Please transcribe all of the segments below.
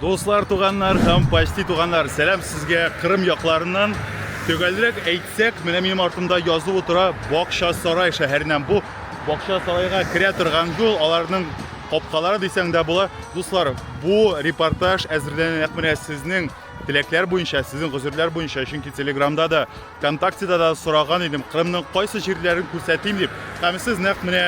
Дуслар, туганнар һәм почти туганнар, сәлам сезгә Кырым якларыннан. Төгәлрәк әйтсәк, менә минем артымда язылып утыра Бакча Сарай шәһәреннән. Бу Бакча Сарайга керә торган юл, аларның капкалары дисәң дә була. Дуслар, бу репортаж әзерләнә нәкъ менә сезнең теләкләр буенча, сезнең гозерләр буенча, чөнки Телеграмда да Вконтактеда да сораган идем, Кырымның кайсы җирләрен күрсәтим дип, һәм сез нәкъ менә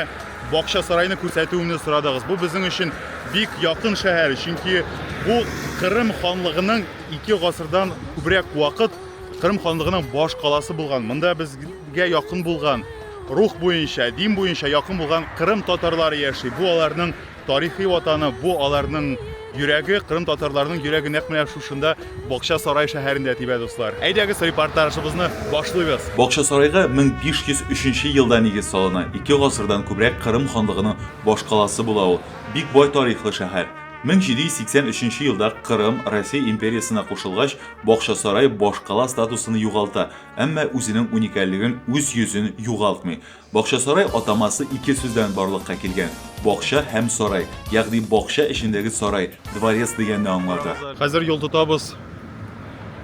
Бакча сарайны күрсәтүемне сорадыгыз. Бу безнең өчен бик якын шәһәр, чөнки бу Кырым ханлыгының 2 гасырдан күбрәк вакыт Кырым ханлыгының баш каласы булган. Монда безгә якын булган, рух буенча, дин буенча якын булган Кырым татарлары яши. Бу аларның Тарихи ватаны бу аларның йөрәге, кырым татарларының йөрәге нәкъ менә шушында Бакча сарай шәһәрендә тибә, дуслар. Әйдәгез репортажыбызны башлыйбыз. Бакча сарайга 1503 нче елда нигез салына, ике гасырдан күбрәк Кырым ханлыгының башкаласы була ул. Бик бай тарихлы шәһәр. 1783 нче елда Кырым Россия империясына кушылгач, Бакча сарай башкала статусын югалта, әмма үзенең уникальлеген, үз йөзен югалтмый. Бакчасарай атамасы ике сүздән барлыкка килгән, бакча һәм сарай, ягъни бакча эчендәге сарай, дворец дигәнне аңлата. Хәзер юл тотабыз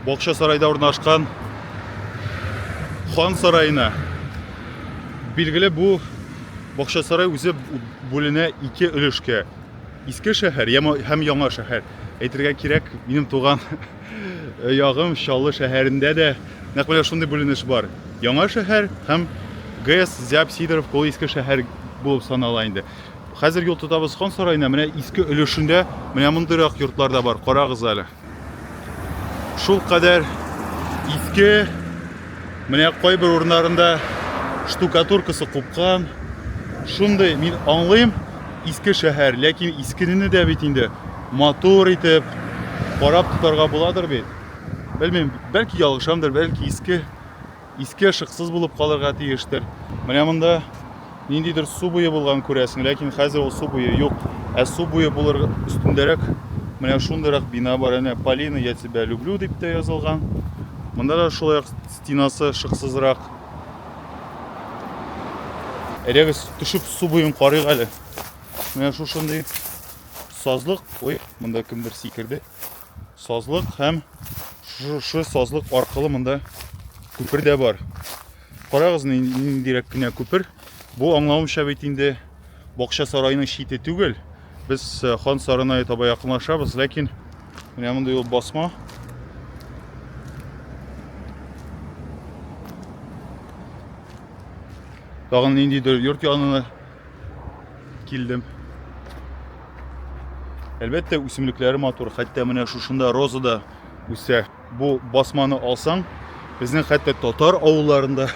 Бакчасарайда урнашкан Хан сараена. Билгеле, бу Бакчасарай үзе бүленә ике өлешкә. Иске шәһәр һәм Яңа шәһәр. Әйтергә кирәк, минем туган Э, ягым Чаллы шәһәрендә дә нәкъ менә шундый бүленеш бар. Яңа шәһәр һәм ГЭС, Зяб, Сидоров, ул иске шәһәр булып санала инде. Хәзер юл тотабыз Хан сараена, менә иске өлешендә менә мондыйрак йортлар да бар, карагыз әле. Шул кадәр иске, менә кайбер урыннарында штукатуркасы купкан. Шундый мин аңлыйм, иске шәһәр, ләкин искенене дә бит инде матур итеп карап тотарга буладыр бит. Белмим, бәлки ялгышамдыр, бәлки иске иске ышыксыз булып калырга тиештер. Менә монда ниндидер су буе булган күрәсең, ләкин хәзер ул су буе юк. Ә су буе булыр өстендәрәк менә шундыйрак бина бар, әнә Полина, я тебя люблю дип тә язылган. Монда да шулай ук стенасы ышыксызрак. Әйдәгез, төшеп су буен карыйк әле. Менә шушындый сазлык, ой, монда кемдер сикерде. Сазлык һәм шушы сазлык аркылы монда күпер дә бар. Карагыз, ниндирәк кенә күпер. Бу аңлавымча бит инде бакча сарайының чите түгел. Без э, хан сарына таба якынлашабыз, ләкин менә монда юл басма. Тагын ниндидер йорт янына Килдем. Әлбәттә, үсемлекләре матур, хәтта менә шушында роза да үсә. Бу басманы алсаң, безнең хәтта татар авылларында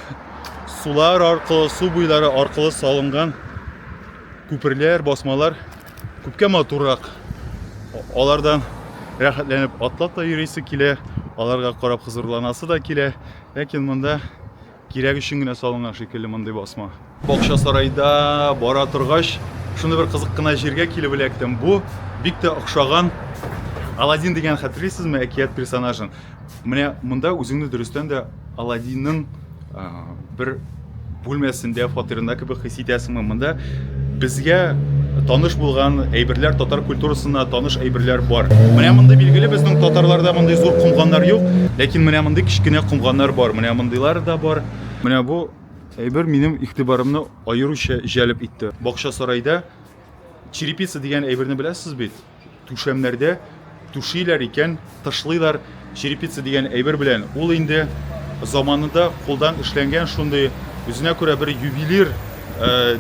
сулар аркылы, су буйлары аркылы салынган күперләр, басмалар күпкә матуррак. Алардан рәхәтләнеп атлап та йөресе килә, аларга карап хозурланасы да килә. Ләкин монда Кирәк өчен генә салынган шикелле мондый басма. Бакчасарайда бара торгач, шундый бер кызык кына җиргә килеп эләктем. Бу бик тә охшаган Аладдин дигән хәтерлисезме әкият персонажын? Менә монда үзеңне дөрестән дә Аладдинның бер бүлмәсендә, фатирында кебек хис итәсеңме? Монда Безгә таныш булган әйберләр, татар культурасына таныш әйберләр бар. Менә мондый билгеле безнең татарларда мондый зур комганнар юк, ләкин менә мондый кечкенә комганнар бар. Менә мондыйлар да бар. Менә бу әйбер минем игътибарымны аеруча җәлеп итте. Бакча сарайда черепица дигән әйберне беләсез бит? Түшәмнәрдә түшиләр икән, тышлыйлар черепица дигән әйбер белән. Ул инде заманында кулдан эшләнгән шундый үзенә күрә бер ювелир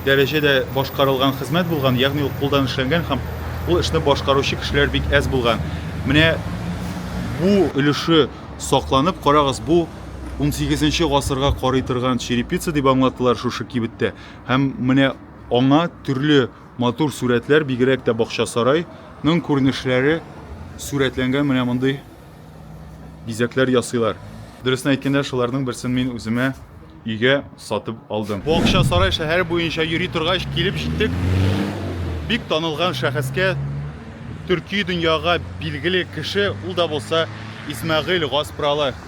дәрәҗәдә башкарылган хезмәт булган, ягъни ул кулдан эшләнгән һәм ул эшне башкаручы кешеләр бик әз булган. Менә бу өлеше сакланып, карагыз, бу 18 гасырга карый торган черепица дип аңлаттылар шушы кибеттә. Һәм менә аңа төрле Матур сурәтләр, бигрәк тә бакчасарай ның күренешләре сурәтләнгән менә мондый бизәкләр ясыйлар. Дөресен әйткәндә, шуларның берсен мин үземә өйгә сатып алдым. Бакчасарай шәһәре буенча йөри торгач, килеп җиттек бик танылган шәхескә, төрки дөньяга билгеле кеше, ул да булса Исмәгыйль Гаспралы.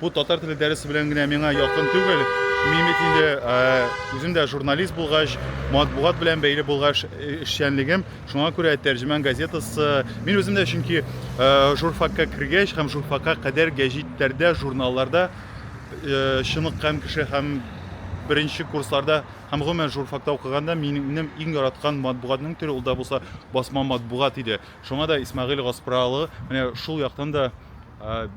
Бу татар теле дәресе белән генә миңа якын түгел. Мин бит инде үзем дә журналист булгач, матбугат белән бәйле булгач эшчәнлегем, шуңа күрә Тәрҗемән газетасы. Мин үзем дә чөнки журфакка кергәч һәм журфакка кадәр гәҗитләрдә, журналларда чыныккан кеше һәм беренче курсларда һәм гомумән журфакта укыганда минем иң яраткан матбугатның төре ул да булса басма матбугат иде. Шуңа да Исмәгыйль Гаспралы менә шул яктан да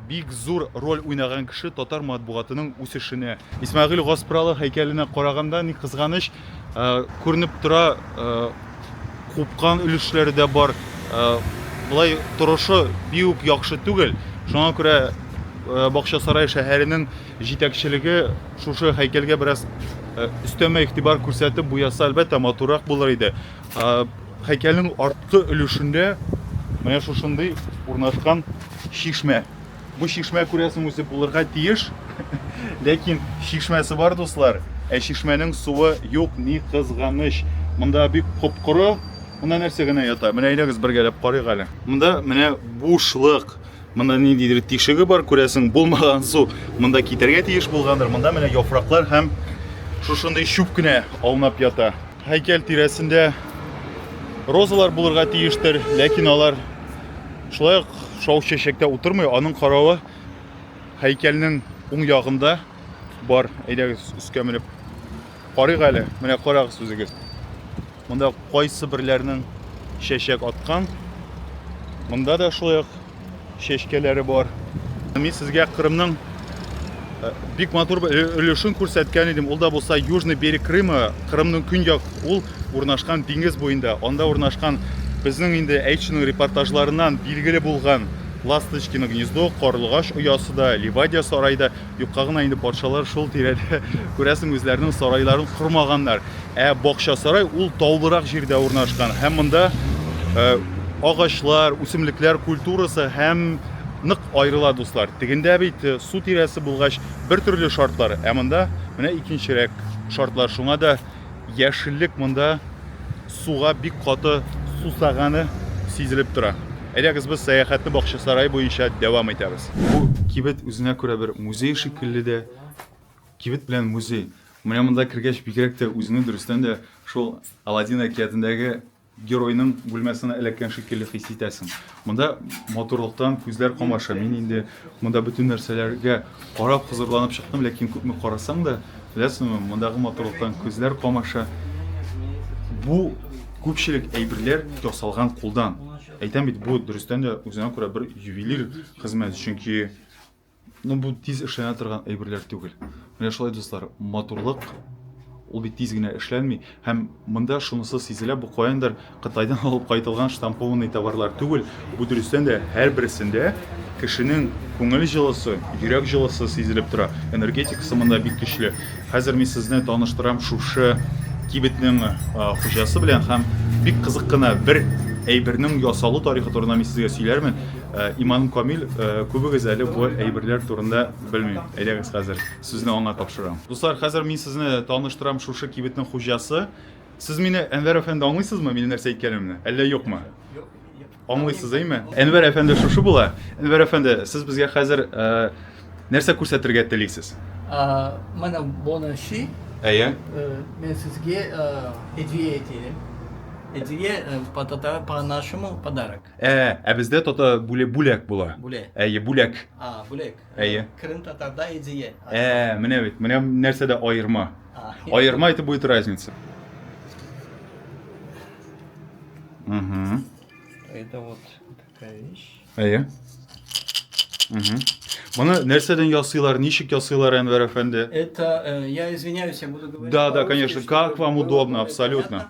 бик зур роль уйнаган кеше татар матбугатының үсешенә. Исмәгыйль Гаспралы һәйкәленә караганда, ни кызганыч, күренеп тора, купкан өлешләре дә бар, болай торышы бик үк яхшы түгел. Шуңа күрә Бакчасарай шәһәренең җитәкчелеге шушы һәйкәлгә бераз өстәмә игътибар күрсәтеп буяса, әлбәттә, матуррак булыр иде. Һәйкәлнең арткы өлешендә менә шушындый урнашкан чишмә. Бу чишмә күрәсең үзе булырга тиеш, ләкин чишмәсе бар, дуслар, ә чишмәнең суы юк, ни кызганыч. Монда бик коп-коры, монда нәрсә генә ята? Менә әйдәгез бергәләп карыйк әле. Монда менә бушлык. Монда ниндидер тишеге бар, күрәсең, булмаган су монда китәргә тиеш булгандыр. Монда менә яфраклар һәм шушындый чүп кенә аунап ята. Һәйкәл тирәсендә розалар булырга тиештер, ләкин алар шулай ук шау чәчәктә утырмый, аның каравы һәйкәлнең уң ягында бар. Әйдәгез, өскә менеп карыйк әле. Менә карагыз үзегез. Монда кайсы берләрнең чәчәк аткан. Монда да шулай ук чәчкәләре бар. Мин сезгә Кырымның э, бик матур өлешен күрсәткән идем. Ул да булса Южный берег Крыма, Кырымның көньяк ул урнашкан диңгез буенда. Анда урнашкан безнең инде әйтченең репортажларыннан билгеле булган Ласточкино гнездо, Карлыгач оясы да, Ливадия сарай да. Юкка гына инде патшалар шул тирәдә, күрәсең, үзләренең сарайларын кормаганнар. Ә бакча сарай ул таулырак җирдә урнашкан һәм монда э, агачлар, үсемлекләр культурасы һәм нык аерыла, дуслар. Тегендә бит э, су тирәсе булгач, бер төрле шартлар, ә монда менә икенчерәк шартлар. Шуңа да Яшеллек монда суга бик каты сусаганы сизелеп тора. Әйдәгез без сәяхәтне бакчасарай буенча дәвам итәбез. Бу кибет үзенә күрә бер музей шикелле дә. Кибет белән музей. Менә монда кергәч бигрәк тә үзеңне дөрестән дә шул Аладдин әкиятендәге Геройның бүлмәсенә эләккән шикелле хис итәсең. Монда матурлыктан күзләр камаша. Мин инде монда бөтен нәрсәләргә карап хозурланып чыктым, ләкин күпме карасаң да, беләсеңме, мондагы матурлыктан күзләр камаша. Бу күпчелек әйберләр ясалган кулдан. Әйтәм бит, бу дөрестән дә үзенә күрә бер ювелир хезмәт, чөнки Ну, бу тиз эшләнә торган әйберләр түгел. Менә шулай, дуслар, матурлык ул бит тиз генә эшләнми. Һәм монда шунысы сизелә, бу каяндыр Кытайдан алып кайтылган штампованный товарлар түгел. Бу дөрестән дә һәрберсендә кешенең күңел җылысы, йөрәк җылысы сизелеп тора. Энергетикасы монда бик көчле. Хәзер мин сезне таныштырам шушы кибетнең хуҗасы белән һәм бик кызык кына бер әйбернең ясалу тарихы турында мин сезгә сөйләрмен. Иманым камил, күбегез әле бу әйберләр турында белми. Әйдәгез хәзер, сүзне аңа тапшырам. Дуслар, хәзер мин сезне таныштырам шушы кибетнең хуҗасы. Сез мине, Әнвәр әфәнде, аңлыйсызмы, минем нәрсә әйткәнемне, әллә юкмы? Аңлыйсыз, әйме? Әнвәр әфәнде шушы була. Әнвәр әфәнде, сез безгә хәзер нәрсә күрсәтергә телисез? Менә моны чи. Әйе. Мин сезгә һәдия әйтәм. Һәдия по-татар, по-нашему подарок. Ә, ә бездә тата бүле бүләк була. Бүләк. Әйе, бүләк. А, бүләк. Әйе. Кырым татарда идея. Ә, менә бит, менә нәрсәдә аерма. Аерма это будет разница. Угу. Это вот такая вещь. Әйе. Угу. Моны нәрсәдән ясыйлар, ничек ясыйлар, Әнвәр әфәнде? Это, э, я извиняюсь, я буду говорить. Да, да, конечно, как вам удобно, абсолютно.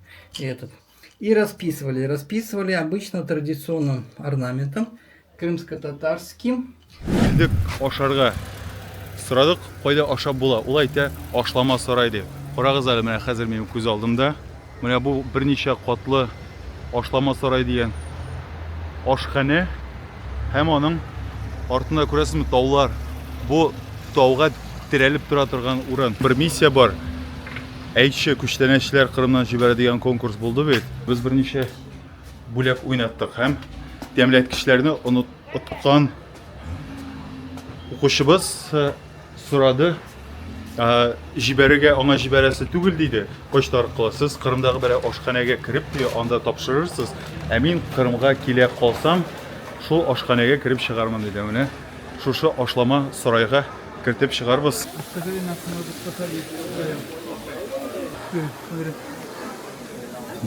этот. И расписывали. Расписывали обычно традиционным орнаментом, крымско-татарским. Идек ашарга. Сорадык, кайда ашап була? Ул әйтә, ашлама сарай дип. Карагыз әле, менә хәзер минем күз алдымда. Менә бу берничә катлы ашлама сарай дигән ашханә һәм аның артында күрәсезме таулар. Бу тауга терәлеп тора торган урын. Бер миссия бар. Әйтче, күчтәнәчләр Кырымнан җибәрә дигән конкурс булды бит. Без берничә бүләк уйнаттык һәм тәмләткечләрне оныткан укучыбыз э, сорады, э, җибәрергә аңа җибәрәсе түгел диде. Почта аркылы сез Кырымдагы бер ашханәгә кереп ди, анда тапшырырсыз. Ә мин Кырымга килә калсам, шул ашханәгә кереп чыгармын диде. Менә шушы ашлама сарайга Кертеп чыгарбыз.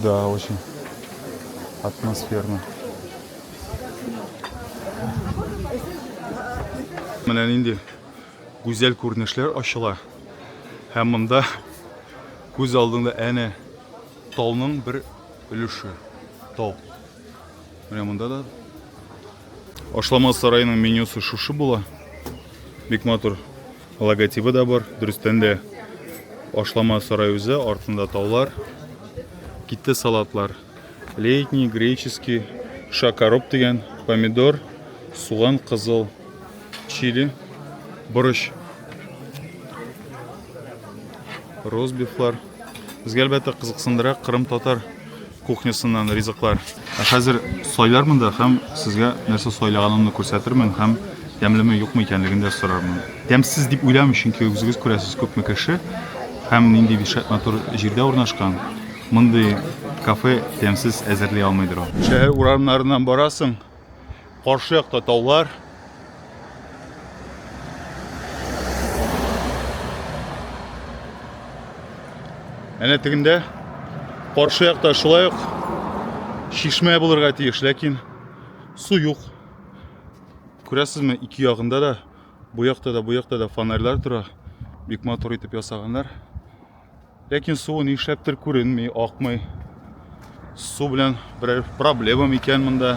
Да, очень атмосферно. Менә нинди гүзәл күренешләр ачыла. Һәм монда күз алдыңда әнә тауның бер өлеше. Тау. Менә монда да. Ашлама сараеның менюсы шушы була. Бик матур. Логотибы да бар. Дөрестән дә ашлама сарай үзе, артында таулар. Китте салатлар. Летний, греческий, шакароп дигән, помидор, суган, кызыл, чили, борыч. Розбифлар. Безгә әлбәттә кызыксындыра Кырым татар кухнясыннан ризыклар. Ә хәзер сайлармын да һәм сезгә нәрсә сайлаганымны күрсәтермен һәм тәмлеме юкмы икәнлеген дә сорармын. Тәмсез дип уйламыйм, чөнки үзегез күрәсез, күпме кеше һәм нинди бишәт матур җирдә урнашкан. Мондый кафе тәмсез әзерли алмыйдыр ул. Шәһәр урамнарыннан барасың. Каршы якта таулар. Әнә тегендә каршы якта шулай ук шишмә булырга тиеш, ләкин су юк. Күрәсезме, ике ягында да, бу якта да, бу якта да фонарьлар тора. Бик матур итеп ясаганнар. Ләкин суы нишләптер күренми, акмый. Су белән берәр проблема микән монда?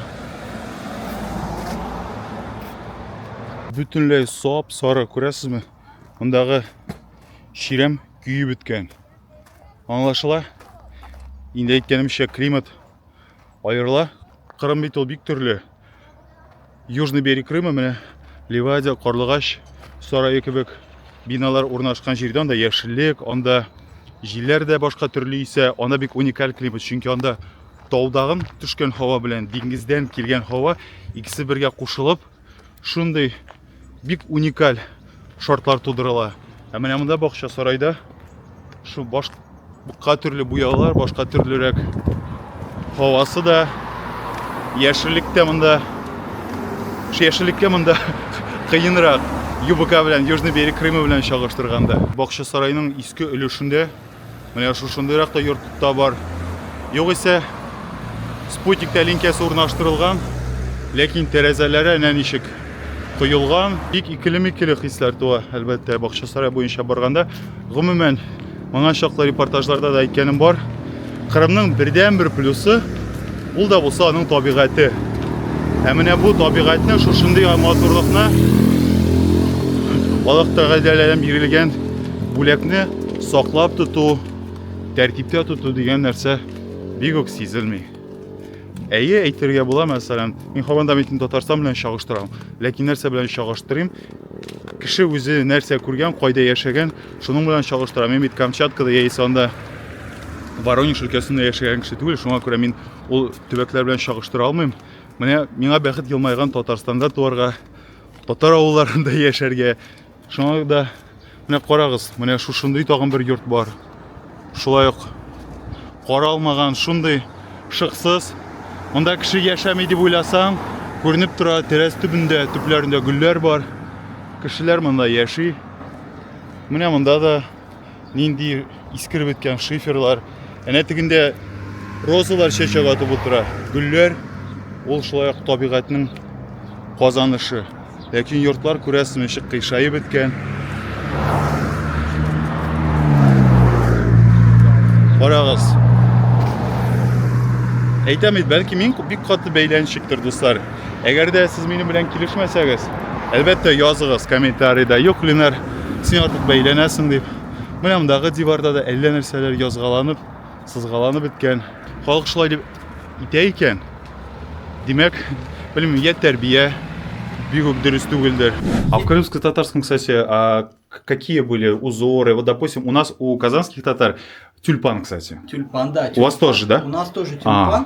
Бөтенләй сап сары, күрәсезме? Мондагы чирәм көйеп беткән. Аңлашыла. Инде әйткәнемчә, климат аерыла. Кырым бит ул бик төрле. Южный берег Крыма менә Ливадия, Карлыгач сарае кебек биналар урнашкан җирдә анда яшеллек, анда җилләр дә башка төрле исә, анда бик уникаль климат, чөнки анда таудагын төшкән һава белән диңгездән килгән һава икесе бергә кушылып, шундый бик уникаль шартлар тудырыла. Ә менә монда бакча сарайда шу башка төрле буяулар, башка төрлерәк һавасы да, яшеллек тә монда. Шу яшеллеккә монда кыенрак ЮБК белән, Южный берег Крыма белән чагыштырганда. Бакча сарайның иске өлешендә Менә шушындыйрак та йортта бар. Югыйсә, спутник тәлинкәсе урнаштырылган, ләкин тәрәзәләре әнә ничек коелган. Бик икеле-микеле хисләр туа, әлбәттә, Бакчасарай буенча барганда. Гомумән, моңа чаклы репортажларда да әйткәнем бар. Кырымның бердәнбер плюсы Ул да булса аның табигате. Ә менә бу табигатьне шушындый матурлыкны Аллаһ Тәгаләдән бирелгән бүләкне саклап тоту, тәртиптә тоту дигән нәрсә бик үк сизелми. Әйе, әйтергә була, мәсәлән, мин хаванда митен Татарстан белән чагыштырам. Ләкин нәрсә белән чагыштырыйм? Кеше үзе нәрсә күргән, кайда яшәгән, Шуның белән чагыштыра, мин бит Камчаткада яисә анда Воронеж өлкәсендә яшәгән кеше түгел, шуңа күрә мин ул төбәкләр белән чагыштыра алмыйм. Менә миңа бәхет елмайган Татарстанда туарга, татар авылларында яшәргә. Шуңа да менә карагыз, менә шушындый тагын бер йорт бар. Шулай ук каралмаган шундый шыксыз. Монда кеше яшәми дип уйласаң, күренеп тора, тәрәз төбендә, төпләрендә гөлләр бар. Кешеләр монда яши. Менә монда да нинди искереп беткән шиферлар. Әнә тегендә розалар чәчәк атып утыра. Гөлләр ул шулай ук табигатьнең казанышы. Ләкин йортлар күрәсең ничек кыйшаеп беткән. Карагыз. Әйтәм бит, бәлки мин бик каты бәйләнчектер, дуслар. Әгәр дә сез минем белән килешмәсәгез, әлбәттә языгыз комментарида, юк Ленар, син артык бәйләнәсең дип. Менә мондагы диварда да әллә нәрсәләр язгаланып Сызгаланып беткән. Халык шулай дип итә икән. Димәк, белмим, я тәрбия бик үк дөрес түгелдер. А в крымско-татарском, кстати, а, какие были узоры? Вот, допустим, у нас у казанских татар тюльпан, кстати. Тюльпан, да. Тюльпан. У вас тоже, да? У нас тоже тюльпан. А.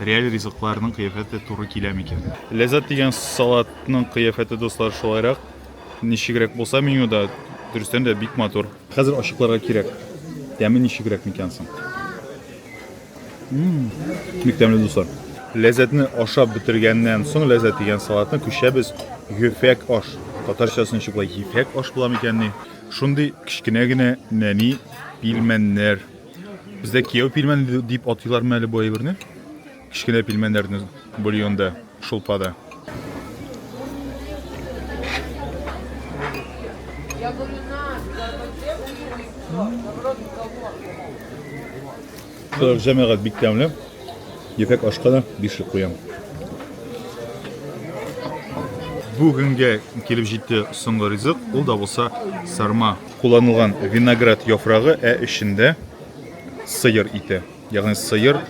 Реаль ризыкларның кыяфәте туры килә микән? Ләззәт дигән салатның кыяфәте, дуслар, шулайрак. Ничегрәк булса менюда, дөрестән дә бик матур. Хәзер ачыкларга кирәк. Тәме ничегрәк микән соң? Мм, бик тәмле, дуслар. Ләззәтне ашап бетергәннән соң, ләззәт дигән салатны күчәбез гөфәк аш. Татарчасы ничек болай, гифәк аш була микәнни? Шундый кечкенә генә нәни пилмәннәр. Бездә кияү пилмән дип атыйлармы әле бу әйберне? Кечкенә пилмәннәрне бульонда, шулпада. Шулай җәмәгать бик тәмле. Ефәк ашка да бишлек куям. Бүгенгә килеп җитте соңгы ризык, ул да булса сарма Кулланылган виноград яфрагы, ә эчендә сыер ите. Ягъни сыер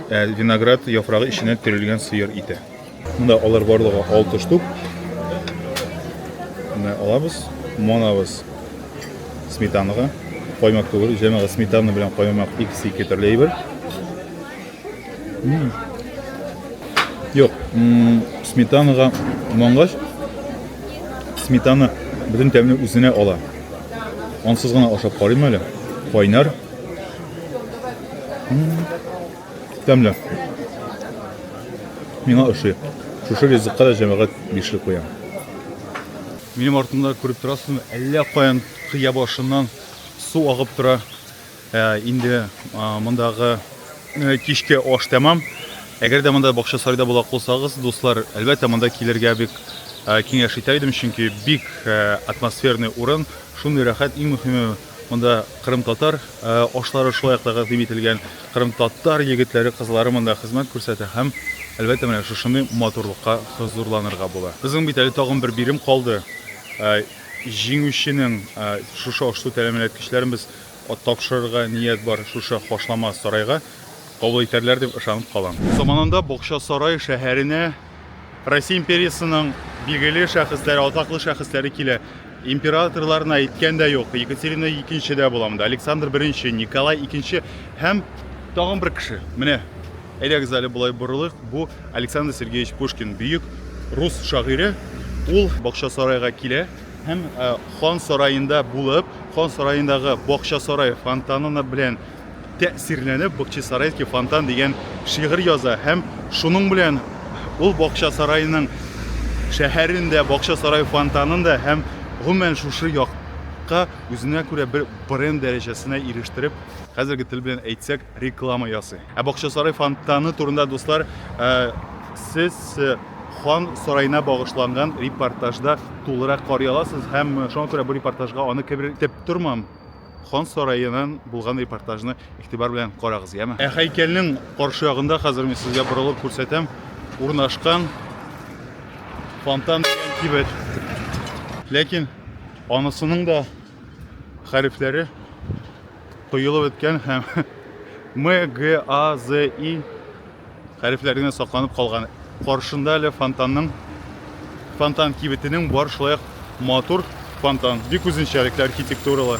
ә, виноград яфрагы эченә төрелгән сыер ите. Монда алар барлыгы 6 штук. Менә алабыз, монабыз сметанага, каймак түгел, җәмәгать сметана белән каймак икесе ике төрле әйбер. Юк, сметанаға мангач, сметана бөтен тәмне үзенә ала. Ансыз гына ашап карыйм әле. Кайнар. Тәмле. Миңа ошый. Шушы ризыкка да җәмәгать бишле куя. Минем артымда күреп торасызмы, әллә каян кыя башыннан су агып тора. Ә инде мондагы кичке аш тәмам. Әгәр дә монда бакча сарайда булак булсагыз, дуслар, әлбәттә монда килергә бик киңәш итә идем, чөнки бик атмосферный урын, шундый рәхәт, иң мөһиме монда Кырым татар ашлары шулай ук тәкъдим ителгән, Кырым татар егетләре, кызлары монда хезмәт күрсәтә һәм әлбәттә менә шушындый матурлыкка хозурланырга була. Безнең бит әле тагын бер бирем калды. Җиңүченең шушы аш-су тәэминат кичләрен без Ат тапшырырга ният бар шушы хашлама сарайга кабул итәрләр дип ышанып калам. Заманында Бакчасарай шәһәренә Россия империясының билгеле шәхесләре, атаклы шәхесләре килә. Императорларны әйткән дә юк, Екатерина икенче дә була монда, Александр беренче, Николай икенче һәм тагын бер кеше. Менә, әйдәгез әле болай борылыйк, бу Александр Сергеевич Пушкин, бөек рус шагыйре, ул Бакчасарайга килә. Һәм хан сараенда булып, хан сараендагы Бакчасарай фонтанына белән тәэсирләнеп, Бакчасарайский фонтан дигән шигырь яза һәм шуның белән ул Бакчасарайның шәһәрен дә, Бакчасарай фонтанын да һәм гомумән шушы як ка үзенә күрә бер бренд дәрәҗәсенә ирештереп, хәзерге тел белән әйтсәк, реклама ясый. Ә Бакчасарай фонтаны турында, дуслар, сез Хан сараена багышланган репортажда тулырак карый аласыз һәм шуңа күрә бу репортажга аны кебер итеп тормам. Хан сараеннан булган репортажны игътибар белән карагыз, яме. Ә һәйкәлнең каршы ягында хәзер мин сезгә борылып күрсәтәм, урнашкан фонтан дигән кибет. Ләкин анысының да хәрефләре Коелып беткән һәм М, Г, А, З, И хәрефләре генә сакланып калган. Каршында әле фонтанның фонтан кибетенең бар шулай матур фонтан. Бик үзенчәлекле архитектуралы.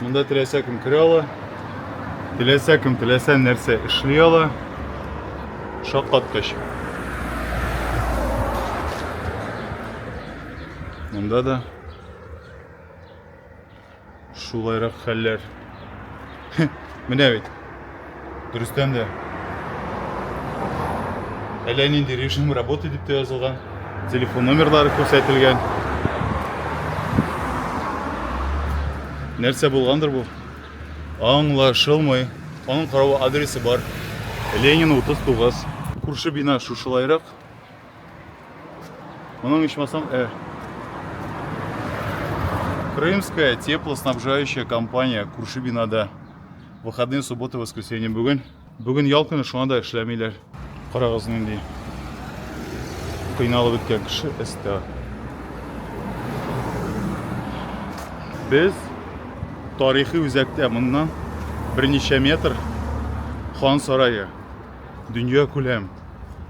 Монда теләсә кем керә ала, теләсә кем теләсә нәрсә эшли ала. Шаккаткыч. Монда да шулайрак хәлләр. Менә бит. дөрестән дә әллә нинди режим работы дип тә язылган телефон номерлары күрсәтелгән нәрсә булгандыр бу аңлашылмый аның каравы адресы бар ленин 39 күрше бина шушылайрак моның ичмасам ә крымская теплоснабжающая компания күрше бинада Выходные, суббота, воскресенье бүген. Бүген ял көне, шуңа да эшләмиләр. Карагыз нинди кыйналып беткән кеше эстә. Без тарихи үзәктә моннан берничә метр хан сарае. Дөнья күләм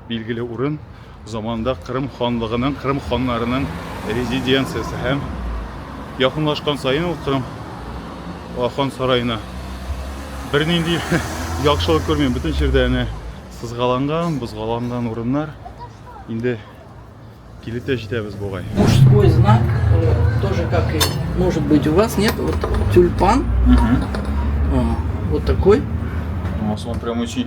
билгеле урын. Заманында Кырым ханлыгының, Кырым ханнарының резиденциясе һәм якынлашкан саен ул Кырым хан сараена бернинди яхшылык күрмим. Бөтен җирдә әнә сызгаланган, бозгаланган урыннар. Инде килеп тә җитәбез бугай. Мужской знак э, тоже как и может быть у вас нет вот тюльпан. Угу. Вот такой. У вас он прям очень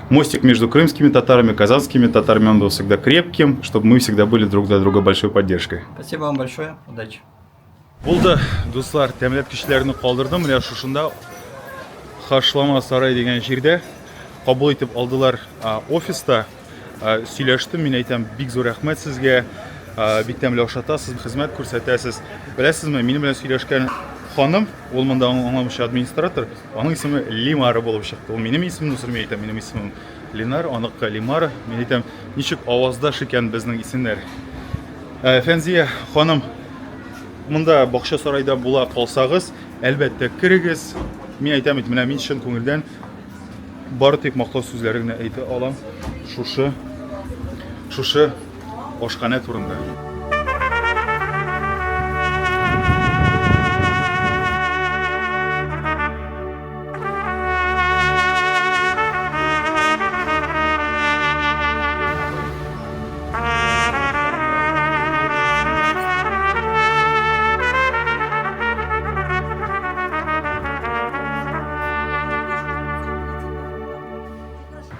Мостик между крымскими татарами, казанскими татарами, он был всегда крепким, чтобы мы всегда были друг для друга большой поддержкой. Спасибо вам большое, удачи. Булды, дуслар, тәмләп кешеләрне калдырдым, менә шушында Хашлама сарай дигән җирдә кабул итеп алдылар офиста. Сөйләштем, мин әйтәм, бик зур рәхмәт сезгә. Бик тәмле ашатасыз, хезмәт күрсәтәсез. Беләсезме, минем белән сөйләшкән ханым Ул монда аңламыйча администратор, аның исеме Лимара булып чыкты. Ул минем исемне сөрми әйтә, минем исемем Ленар, аныкы Лимара. Мин әйтәм, ничек аваздаш икән безнең исемнәр. Ә, Фәнзия ханым, монда бакча сарайда була калсагыз, әлбәттә керегез. Мин әйтәм бит, менә мин чын күңелдән Бары тик мактау сүзләре генә әйтә алам шушы шушы ашханә турында.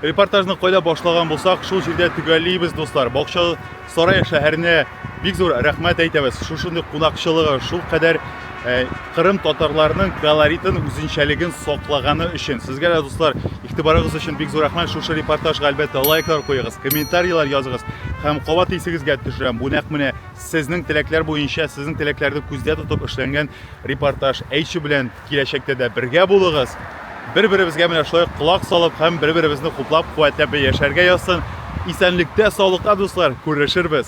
репортажны кайда башлаган булсак шул җирдә төгәллибез дуслар бакчалы сарай шәһәренә Бик зур рәхмәт әйтәбез. Шушындый кунакчылыгы, шул кадәр Кырым татарларының колоритын, үзенчәлеген саклаганы өчен. Сезгә дә, дуслар, игътибарыгыз өчен бик зур рәхмәт. Шушы репортажга әлбәттә лайклар куегыз, комментарийлар языгыз. Һәм кабат исегезгә төшерәм, бу нәкъ менә сезнең теләкләр буенча, сезнең теләкләрне күздә тотып эшләнгән репортаж. Әйче белән киләчәктә дә бергә булыгыз. Бер-беребезгә менә шулай колак салып һәм бер-беребезне хуплап, куәтләп яшәргә язсын. Исәнлектә, саулыкта, дуслар, күрешербез.